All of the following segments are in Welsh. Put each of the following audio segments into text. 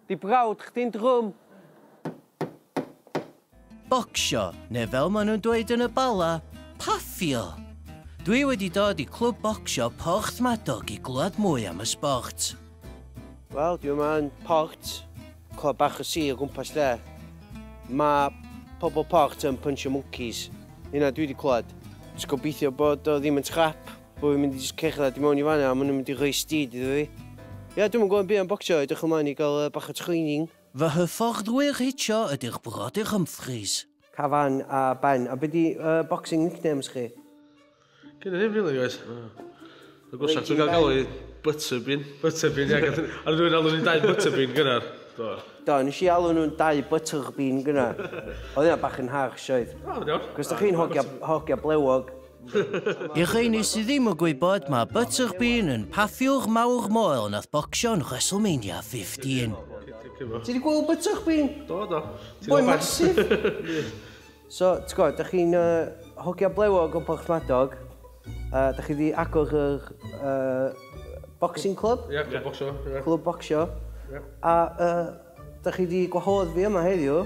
Di brawd chdi'n drwm. Bocsio, neu fel maen nhw'n dweud yn y Bala, paffio! Dwi wedi dod i Clwb Bocsio Porthmadog i glywed mwy am y sbort. Wel, dwi yma yn Port, clwb bach y sir o gwmpas lle. Mae pobl Port yn pynsio mwncis, hynna dwi wedi clywed. Jyst gobeithio bod o ddim yn scrap. Bo fi'n mynd i jyst cerdded i mewn i fan 'na a ma' nhw'n mynd i rhoi steed iddo fi. Ie, dwi'm yn gwybod byd am bocsio, edrych ymlaen i gael bach o training. Fy hyfforddwyr hitio ydy'r Brodyr Humphreys. Cafan a Ben. A be di uh, boxing nicknames chi? Gen i ddim really guys. Y gwrsach dwi'n cael galw i Butterbin. Butterbin, ie. Ar rwy'n alw ni'n dau Butterbin gynnar. Do. Do, nes i alw nhw'n dau Butterbin gynnar. Oedd yna bach yn harsh oedd. O, iawn. Cos da chi'n hogia, hogia blewog. I rheini sydd ddim yn gwybod, mae Butcher Bean yn paffiwr mawr moel nath bocsio yn WrestleMania 15. Ti wedi gweld Butcher Bean? Do, do. Boi'n massive! so, ti'n gwybod, da chi'n uh, hogia blewog o Porthmadog, uh, da chi wedi agor yr uh, boxing club? Ie, yeah, clwb bocsio. Yeah. Clwb bocsio. Yeah. A uh, da chi wedi gwahodd fi yma heddiw,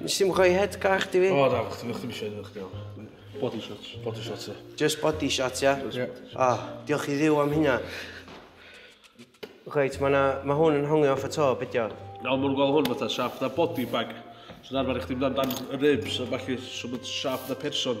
Nes i'm rhoi head gach di fi. O, da, chdi ddim eisiau edrych gael. Body shots. Body shots, ie. Just body shots, ia? Ie. O, diolch i ddiw am hynna. Reit, mae ma hwn yn hongi off y to, bydio. Na, mae'n gweld hwn fatha siap na body bag. So'n arfer i chdi mynd amdan ribs a falle, so mae'n siap na person.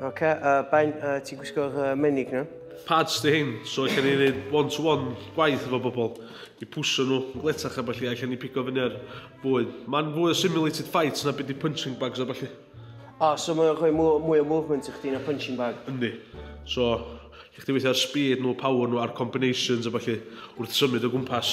Ok, uh, Ben, uh, ti'n gwisgo'r uh, menig na? Pads di hyn, so allan ni wneud one-to-one gwaith efo bobl i pwsio nhw gletach a falle allan ni pigo fyny ar fwyd. Mae'n fwy o simulated fights na beth i punching bags a falle. Ah, so mae'n rhoi mwy o movement i chdi na punching bag? Yndi. So, lle chdi weithio ar speed nhw, power nhw a'r combinations a falle wrth symud o gwmpas.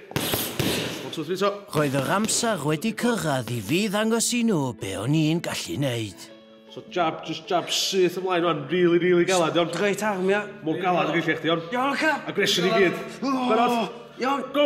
Roedd yr amser wedi cyrraedd i fi ddangos i nhw be o'n i'n gallu neud. So jab, just jab syth ymlaen o'n, really, really galad, iawn? Great arm, ia. Mor galad ag eich chdi, iawn? Iawn, ca! Aggression i gyd. Barod? Iawn. Go!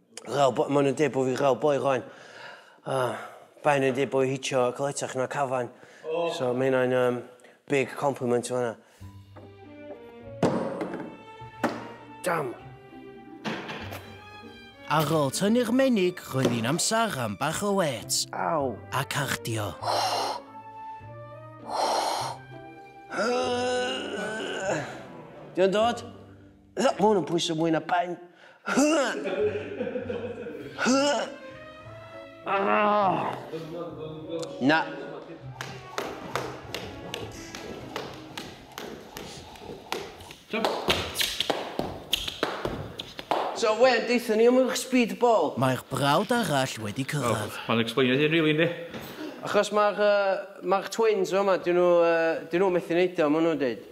Rhaw boi, maen nhw'n dweud bod fi rhaw boi rhaen. A baen nhw'n dweud bod fi hitio caletach na cafan. So mae hynna'n um, big compliment o hynna. Dam! Ar ôl tynnu'r menig, roedd hi'n amser am bach o wet. Aw! A cardio. Diolch dod? Mae hwn yn pwyso mwy na ben. Na. So, Wen, deitha ni am eich speed ball. Mae'r brawd arall wedi cyrraedd. Mae'n explainio ei hun rili, yndi? Achos mae'r twins yma, dyn nhw methu neud o, maen nhw'n dweud.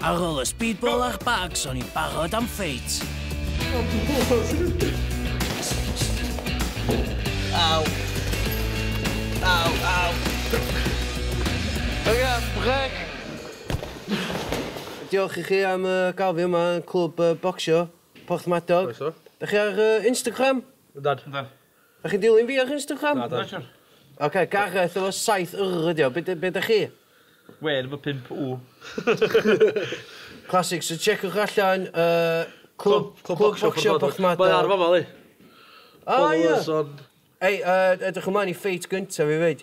Ar ôl y speedball a'r bags, o'n i'n barod am ffeit. Aw. Aw, aw. Oce, brec. Diolch i chi am uh, gael fi yma yn clwb uh, bocsio, Porthmadog. Croeso. Da chi ar uh, Instagram? Ydad. Ydad. Dach chi'n dilyn fi ar Instagram? Nadw. Na siŵr. Ocê, Gareth efo saith Y ydi o. Be d- be dach chi? Wên efo pump W. Classic, so tsieciwch allan yy Clwb Clwb Bocsio Porthmadog. Mae ar fama yli. O ia! Ei yy edrych ymlaen i ffeit gynta fi 'fyd.